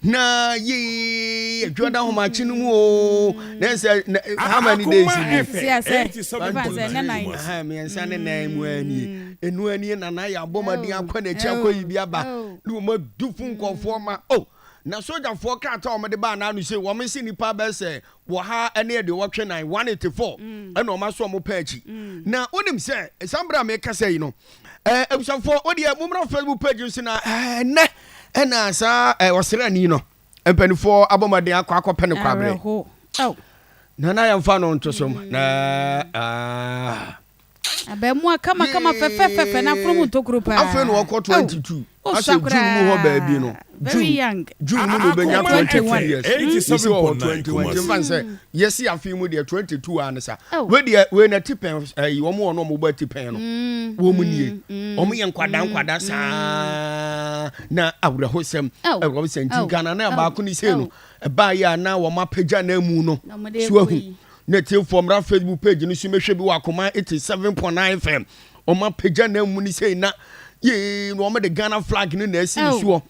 Na yi adwada ahomakye no mu o. Na sɛ how many days ni? Mmiɛnsa ne nan mu ani. Enu ani na na yɛ abɔ maden akɔ n'akyi akɔ yi bi aba. Na wɔn adu fo nkɔfoɔ ma o. Na sogyafoɔ krataa wɔn de baa n'ano sei wɔn nse nipa bɛyɛ sɛ wɔ ha ne ɛde wɔtwe nan one eighty four ɛna wɔn aso wɔn pɛ akyi. Na wonim sɛ ɛsan bere a mekasa yi no. eh, abusuafoɔ wodeɛ mommra facebook page no so na eh, ɛnɛ ɛna saa eh, ɔsrani no mpanimfoɔ abɔ mmɔden akɔ akɔpɛ no kwaberɛ awerɛho oh na na yɛmfa no nto so m- na ah. abɛɛmoa kamakama fɛfɛfɛfɛ na aforo mu ntokuro paa afei na ɔkɔ Au. 22 Ahyɛ June mu hɔ baabi no. June June mu na obenya twenty two years. Eighty seven point nine kuma se. Nfa nsɛ yɛsi afi mu deɛ twenty two a ne sa. Wei deɛ wei na ti pɛn ɛyi wɔn wɔn wɔn bɔ ti pɛn no. Wɔn mu nie. Wɔn yɛ nkwadaa nkwadaa saa na awuraho sɛm. Ɛwɔ sɛ nti Ghana na baako ne se no ɛbaa yɛ a na wɔn apagya na emu no so ahu. Ne ti fɔm ra Facebook page no so mehwɛ bi wɔ akoma eighty seven point nine fm. Wɔn apagya na mu ni sɛ na yee na wɔn de Ghana flag no na esi ne soɔ.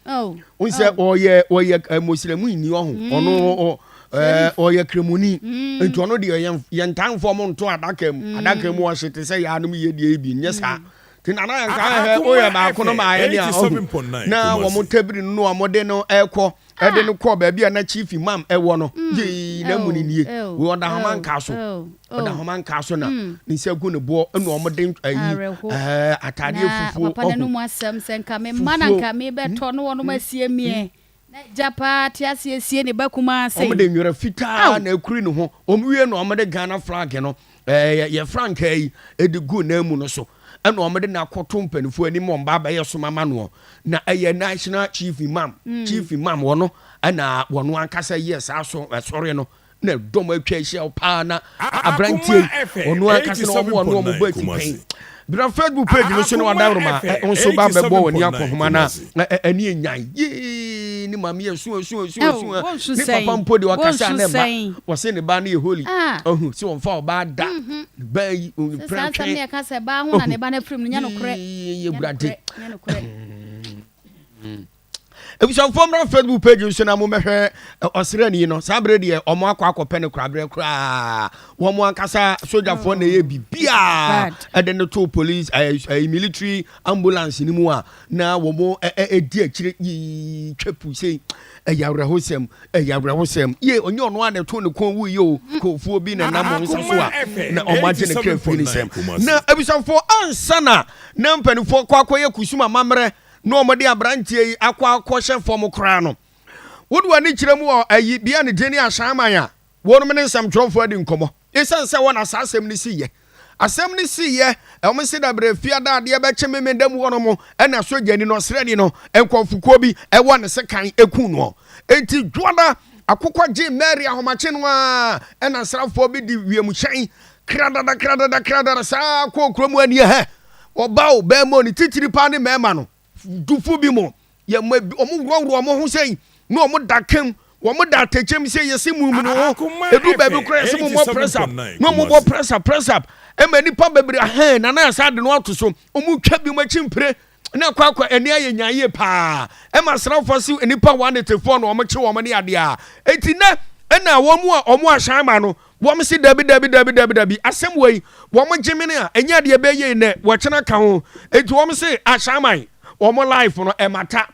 N sɛ ɔyɛ ɔyɛ eh, mosiremu ni ɔho mm. ɔno eh, ɔyɛ kremoni mm. nti ɔno deɛ yɛn yɛn tanfoɔ mo nto adaka mu mm. adaka mu ɔhye te sɛ yaanom yie deɛ ebi nyɛ saa ti nana yɛn kan hɛ oyɛ baako no maa yɛ ni a ɔho na wɔn tɛbiri no wɔn de no ɛkɔ. ɛde no kɔɔ baabi a na chief imam ɛwɔ no mm. yee na mu no nie wei ɔda homa nkaa so ɔda homa nkaa so na mm. ne nsa gu ne boɔ ɛna ɔmo de ayi ɛɛ ataadeɛ fufuo ɔho na mu asɛm sɛ nka me mma na nka me bɛtɔ hmm? no wɔn hmm? asie mie hmm? na gya paa te aseɛ sie ne ba kumaa se ɔmo de nwera fitaa na ekuri ne ho ɔmo wie na ɔmo de ghana flag no Ɛɛ, yɛ frankaa yi de gu nan mu no so, ɛna wɔn de no akɔto mpanimfoɔ anim wɔn ba abɛyɛ som ama noɔ. Na ɛyɛ national chief imam, mm. chief imam wɔn no, ɛna wɔn ankasa yɛ saa so ɛsɔre no. na dɔm atwa ahyia paa na aberanteɛ yi ɔno ankasa na wɔn a wɔn bɔ afi pɛn Bra Facebook page no so na wadan roma nso ba bɛbɔ w'ani akɔ homa no a ani ɛnyan yee ne maame yɛ sua sua sua sua ne papa mpo de ɔkasa ne ba wɔse ne ba no yɛ holy ɔhu sɛ wɔmfa ɔbaa da mhm. ne ba yi ɔmprɛ twɛn yɛ wurade Abusuafoɔ mmra Facebook page nso na mommɛhwɛ ɔsrani no. Saa berɛ deɛ wɔn akɔ akɔpɛ no koraberɛ koraa. Wɔn ankasa sogyafoɔ na ɛyɛ biribiara ɛde no to police ɛɛ eh, eh, military ambulance no mu a na wɔn ɛdi akyire yii twɛ pu sei. Ɛyɛ awerɛhosɛm, ɛyɛ awerɛhosɛm. Yie ɔnyɛ ɔno a na ɛto ne kɔn wuiɛ o. Nkurɔfoɔ bi na nam wɔn nsa so a na wɔn agye ne kra firi ne nsam. Na abusuafoɔ ansa na na mpanimfoɔ kɔ akɔyɛ kusum amammerɛ na wɔde aberanteɛ yi akɔ akɔhyɛ fam koraa no, wode w'ani kyerɛ mu wɔ ayi bia ne din ahyɛnman a wɔnom ne nsɛmtwerɛfoɔ adi nkɔmmɔ. Esiane sɛ ɛhɔ na saa asɛm no siiɛ. Asɛm no siiɛ, wɔn se dabrɛ fiada adeɛ bɛkye memenda mu hɔnom na sogyani no, ɔsrani no, nkurɔfokuo bi wɔ ne sekan kuu noɔ. Enti Dwoada akokɔ gyee Mary ahomakye no ara na asraafoɔ bi de wiemhyɛn kradada kradada kradada saa kɔɔ kuro mu aniɛhɛ. Ɔba o, bɛɛma o, ne titiri paa ne mɛɛma no. Dufo bi mo, yɛ mo ebi, ɔmo worɔworɔ ɔmo ho sɛi, ne ɔmo da kɛm, wɔmo da atɛkyɛm sɛi, yɛse mo nwunu ho, ɛduru baabi koraa yɛse mo mmɔ press up, ne ɔmo bɔ press up, press up, ɛma nipa bebree ahɛn, na na yɛsan ade no ato so, ɔmo twa bi mo akyi mpire, ne ɛkɔ akɔ, ɛne ayɛ nyaa yie paa, ɛma asraafoɔ se nipa wɔanetefoɔ na ɔmo kye wɔn ne adeɛ a, enti nɛ, ɛna wɔn a wɔn ahyɛn ma no, Wɔn se dabi dabi dabi dabi dabi asɛm wei wɔn gye mene a ɛnyɛ deɛ ɛbɛyɛ yi nɛ wɔkyena ka ho enti wɔn se ahyɛaman wɔn life no ɛmata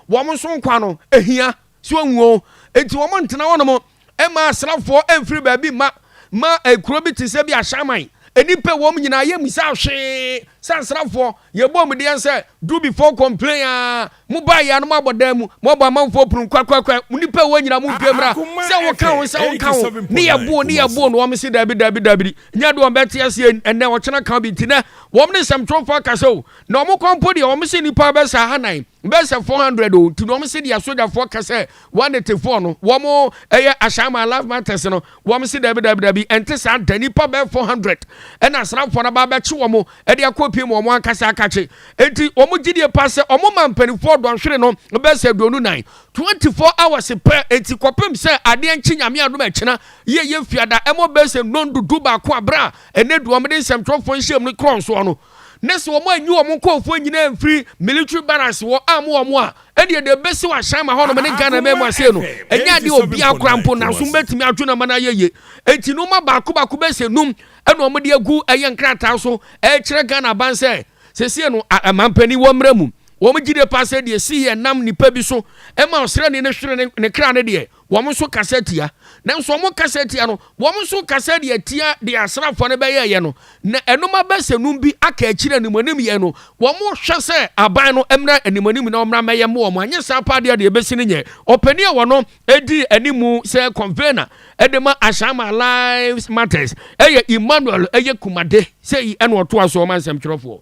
wɔn nso nkwa no ɛhia so ahuo enti wɔn ntena wɔnom ɛma asrafoɔ ɛmfiri baabi mma ma ɛkuro bi te sɛ bi ahyɛaman nnipa wɔm nyinaa yɛ misa hwee sɛ asrafoɔ Yɛbɔɔ mo deɛn sɛ do before complain aa mo baa yɛa no mo abɔ dan mu mo abɔ amanfoɔ punu kwakwakwa mo nipa a ɛwɔ nyina mo dwa mira sɛ wo ka ho sɛ wo ka ho ne yɛ boo ne yɛ boo no wɔn se daabi daabi daabidi nyɛ de wɔn bɛ te aseɛ ɛnɛ ɔkyena ka bi nti nɛ wɔn ne sɛm twerɛfoɔ akasa o na wɔn kwan mpo deɛ wɔn se nipa bɛ saa hanan Bɛyɛ sɛ four hundred o, nti na wɔn se deɛ asogyafoɔ ka sɛ one eighty four no, wɔn ɛyɛ ahyɛnma life matters no, wɔn se dabi dabi dabi, ɛnte saa da, nipa bɛyɛ four hundred ɛna asraafoɔ no aba abɛkye wɔn ɛde akɔ pie mu wɔn ankasa akakye, nti wɔn gyidie paa sɛ wɔn ma mpanimfoɔ dɔnhwere no bɛyɛ sɛ aduonu nan, twenty four hours pɛ, nti kɔpem sɛ adeɛ nkye nyame adom ɛkyena, yie yɛ fiada, ɛmɔ bɛyɛ sɛ nnɔndudu baako a berɛ a ɛnɛ du wɔn de nsɛmtwerɛfoɔ nhyiam no korɔ nsoɔ no. na sɛ wɔn anyi wɔn nkorɔfoɔ nyinaa amfiri military barracks wɔ am wɔn a, ɛdeɛ deɛ ɛbɛsi wɔ ahyɛn ma hɔnom ne Ghana mɛmu aseɛ no, ɛnyɛ adeɛ obiara koraa mpo nanso mobɛtumi adwene ama no ayɛ yie. Enti nnoɔma baako baako bɛyɛ sɛ num ɛna wɔn de agu ɛyɛ nkrataa so ɛrekyerɛ Ghana aban sɛ sesie no mampanin wɔ mmara mu. Wɔn gyidie paa sɛ deɛ ɛsii yɛ nam nipa bi so ɛma ɔsrani no hwere ne kra no deɛ, Wɔn nso kasa tia. Nanso wɔn kasa tia no, wɔn nso kasa de atia deɛ asraafoɔ no bɛyɛeɛ no, na ɛnom abɛsɛnum bi aka akyire animanim yɛn no, wɔhwɛ sɛ aban no mmra animanim na wɔmmra mmɛyɛ mmoa wɔn, anyɛ saa paa deɛ deɛ ɛbɛsi no nyɛ. Ɔpanin a ɔno di anim sɛ convener de ma Ashama Lives Matters yɛ Emmanuel Eyekumade, sei na ɔtoa so ma nsɛmtwerɛfoɔ.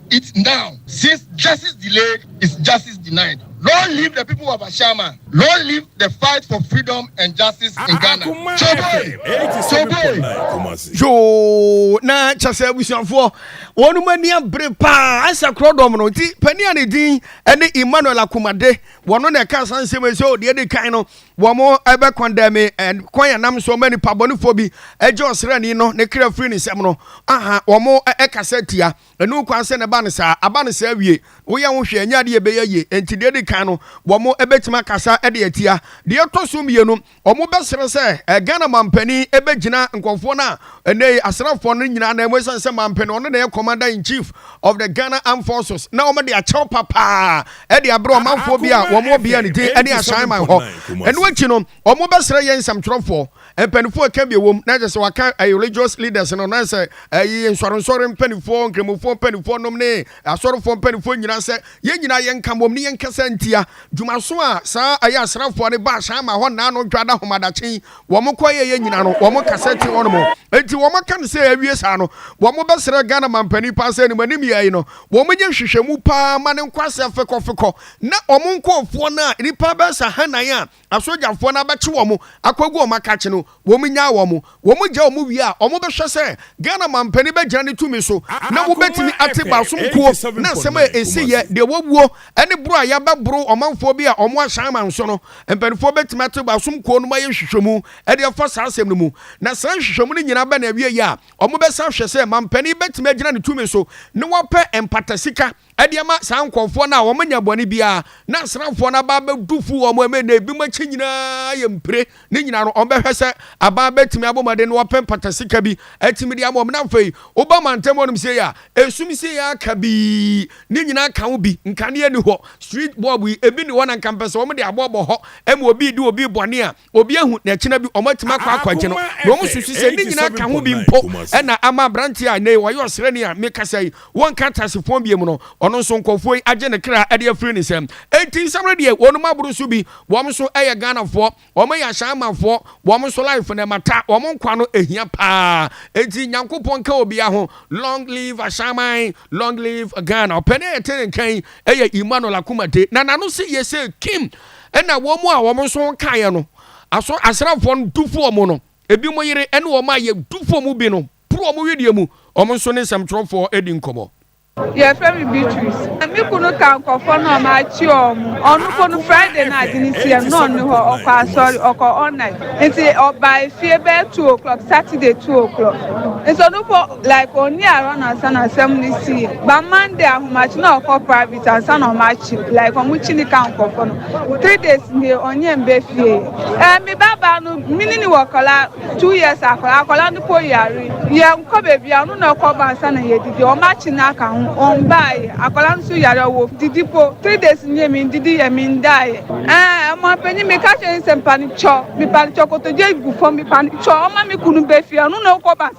it now since justice delayed is justice denied long live the people of Ashama long live the fight for freedom and justice in Ghana yoo na kyɛ sɛ abusuafoɔ wɔn mu ani abere paa asɛ korɔ dɔm no nti panin a ne din ɛne Emmanuel Akomade wɔn na ɛka san nsɛm ɛsɛ ɔdeɛ de kan no wɔn ɛbɛ kɔndɛmi ɛkwan yɛn nam so ɔmɛ nipa bɔnifoɔ bi ɛgye ɔsrɛni no ne kra firi ne nsɛm no aha wɔn ɛkasa tia. Ɛno kwan sɛ na ɛba no saa. Aba no saa wie. Woyɛ ho hwɛ, ɛnyɛ ade a ɛbɛyɛ yie. Enti deɛ ɛdi kan no, wɔbɛtumi akasa de atia. Deɛ ɛtɔ so mmienu, wɔbɛsrɛ sɛ Ghana mampanin bɛgyina nkurɔfoɔ no a ɛnnɛ yi asraafoɔ no nyinaa nan mu ɛsiane sɛ mampanin ɔno na ɛyɛ commander in chief of the Ghana Armed Forces na wɔde akyɛw papaa de abrɛ ɔmanfoɔ bi a wɔn ɔbea ne din ne Ahyɛn Man hɔ. Ɛno akyi no, Wɔbɛsrɛ yɛn nsɛmtwerɛfoɔ mpaninfoɔ ɛka bi ɛwom na kyerɛ sɛ wɔaka religious leaders no na sɛ ɛyɛ nsɔrensɔre mpaninfoɔ, nkramofoɔ mpaninfoɔ nom ne asɔrefoɔ mpaninfoɔ nyinaa sɛ yɛn nyinaa yɛnka mmom ne yɛnkasa ntia dwumaso a saa ɛyɛ asraafoɔ no baasa ama hɔ nna ano dwada homadakye yi wɔn kɔyɛeɛ nyinaa no wɔn kasa ti hɔ nom enti wɔn aka no sɛ awie saa no wɔbɛsrɛ Ghana manpanin paa sɛ animanim yɛi no wɔn nyɛ nhwehwɛmu paa ma ne nkɔ ase afekɔfekɔ na wɔn nkɔɔfoɔ no a nnipa bɛsa hanan a asogyafoɔ no abɛkye wɔn akɔgu wɔn akakye no, wɔnyaa wɔn. Wɔgyaa wɔn wie a, wɔbɛhwɛ sɛ Ghana mampanin bɛgyina ne tumi so na wɔbɛtumi ate baasom kuo ne nsɛm a ɛsiiɛ, deɛ wɔawuo ne boro a yɛabɛboro ɔmanfoɔ bi a wɔahyɛ aman so no. Mpanimfoɔ bɛtumi ate baasom kuo no ma ayɛ nhwehwɛmu de afa saa asɛm no mu. Na saa nhwehwɛmu no nyinaa bɛn awieeɛ a, wɔbɛsan ahwɛ sɛ mampanin bɛtumi agyina ne tumi so na wapɛ mpatasika Ɛde ama saa nkurɔfoɔ no a wɔnyɛ bɔne biara na asraafoɔ no aba abɛdu fu wɔn a, na ebinom akyi nyinaa yɛ mpire. Ne nyinaa no, wɔbɛhwɛ sɛ aban bɛtumi abɔ mmɔden na wɔapɛ mpatasika bi atumi de ama wɔn. Na afei woba mantam hɔnom sei a, esum sei ara aka bi. Ne nyinaa ka ho bi. Nkanea nni hɔ. Street bulb yi, ebi nni hɔ na nka mpɛ sɛ wɔde aboa bɔ hɔ ma obi redi obi bɔne a, Obi ahu na ɛkyena bi wɔn atumi akɔ akwagye no na wɔn susu sɛ ne nyinaa ka ho bi mpo ɛna ama aberanteɛ a ɛnɛ wɔayɛ ɔsrɛni a mekasa yi wɔnka teasefɔn biom no ɔno nso nkɔfoɔ yi agye ne kra ɛde afiri ne sɛm enti nsamere deɛ wɔn mu aboro so bi wɔn nso ɛyɛ Ghanafoɔ wɔn ɛyɛ ahyɛnmafoɔ wɔn nso life na ɛmata wɔn nkwa no ɛhia paa enti nyankopɔn ka obiara ho long live ahyɛnman Long live Ghana. Ɔpɛ na yɛte ne nka yi yɛ Emmanuel Akumade. Na n'ano se yɛ sɛ Kim na wɔn a wɔn nso kaeɛ no aso asraafoɔ no du fo wɔn no. Ebi mo yere ne wɔn a yɛ du fo mu bi no poro wɔn wedeɛ mu. Wɔn nso ne nsɛmtwerɛfoɔ adi nkɔmmɔ. Yɛfrɛ me Beatrice. Na me kunu ka nkurɔfoɔ no a makye wɔn. Ɔno mpo no Friday no a ade no siiɛ no na ɔnni hɔ, ɔkɔ asɔre, ɔkɔ all night. Nti ɔbae fie bɛyɛ two o'clock, Saturday two o'clock. Nti ɔno mpo. Like ɔnni Aaron ansa na asɛm no sii. But Monday ahomakye na ɔkɔ private ansa na ɔmo akye no. Like ɔmo kyi no ka nkorɔfo no. Three days nie ɔnyɛ mbɛ fie. Eh me ba baa no me ne no wɔ kɔla two years akɔla. Akɔla no po yare. Yɛ nkɔ bebia ɔno na ɔkɔ ba ansa na yɛ didi. Ɔmo akye no aka ho. Ɔmbaayɛ. Akɔla no so yare ɔwɔ didi po. Three days nie me ndidi yɛ me ndaayɛ. Eh ɔmanpanyin me ka kyerɛ no sɛ mpanicɔ me panicɔ kotodwe gu fɔm me panicɔ ɔma me kunu bɛ fie ɔno na ɔkɔ ba ansa.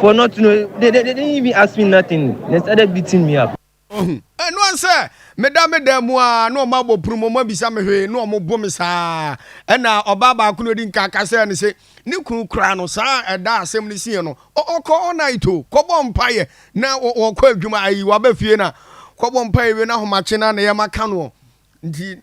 For not know, they, they, they didn't even ask me nothing. They started beating me up. Ohu. Ɛno an sɛ meda me dan mu a na ɔma abɔ punu mu ɔma bisa me hwee na ɔmo bo me saa. Ɛna ɔbaa baako na odi nka ka sɛ ne se ne kunu kura no saa ɛda asɛm no sie no. Ɔkɔ all night o kɔbɔ mpaeɛ na ɔkɔ adwuma ayi waba fie na kɔbɔ mpaeɛ wie na ahomakye na na yɛma ka noɔ nti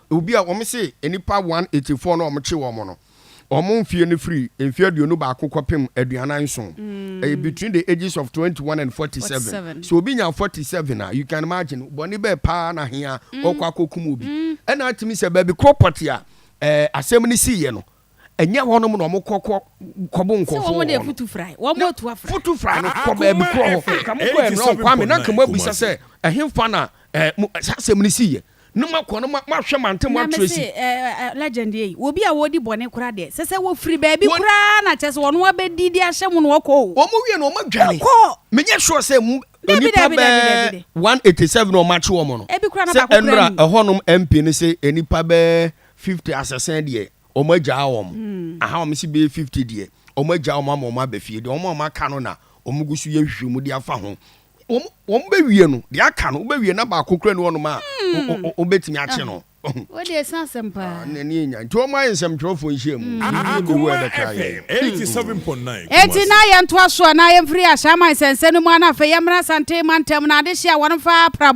Obi a wɔse nnipa 184 no a wɔkye wɔn no, wɔn mfeɛ no firi mfeɛ aduonu baako kɔpem aduanan nson. Ɛyɛ between the ages of 21 and 47. Sɛ obi nya 47 a, you can imagine bɔne bɛɛ paa na hea ɔkɔ akɔkum obi. Ɛna atumi sɛ baabi korɔ pɔtee a asɛm no siiɛ no, Ɛnyɛ hɔnom na wɔn kɔ kɔ kɔbo nkɔfo wɔ hɔ. Sɛ wɔn de afutu fra yi, wɔn atu afra. Futu fra no kɔ baabi korɔ hɔ. Nka mo kɔ ɛnrɔn kwame na nka mo abisa sɛ ɛhenfa na ɛɛ mo saa asɛm no si yɛ. Ne mo akɔ no mo mo ahwɛ mante mo atrɛ si. Na me se ɛɛ ɛɛ legend yɛ yi obi a wɔdi bɔne kora deɛ sɛ sɛ wɔfiri baabi kora na kyɛ sɛ wɔn abɛdi de ahyɛ mo na wɔkɔ o. Wɔn wie na wɔn adwane. Wɔkɔ. Me nyɛ sure sɛ mo. Dabi dabi dabi dabi de. One eighty seven na wɔn akye wɔn no. Ebi kora na baako kura ni. Sɛ ɛnra ɛhɔnom MP no se nipa bɛɛ 50 asɛsɛn deɛ wɔn agyaa wɔn hmm. aha wɔn si bɛyɛ 50 deɛ wɔn agyaa wɔn ama wɔn abɛ fie deɛ wɔn a wɔn aka no na wɔn gu so yɛ nhwehwɛ mu de afa ho wɔn wɔn bɛ wie no deɛ aka no wɔn bɛ wie na baako kura ne wɔn a wɔn hmm. bɛtumi akye no. o de esan asɛm paa. ne ne nya nti wɔn ayɛ nsɛmtwerɛfoɔ nhyia mu. akoma fm eighty seven point nine. eti na yɛn to aso a na yɛn firi ahyɛnman sɛnsɛn mu a na afei yɛn mmerɛ asante mantam na adehyɛ a wɔn fa aprabɔ.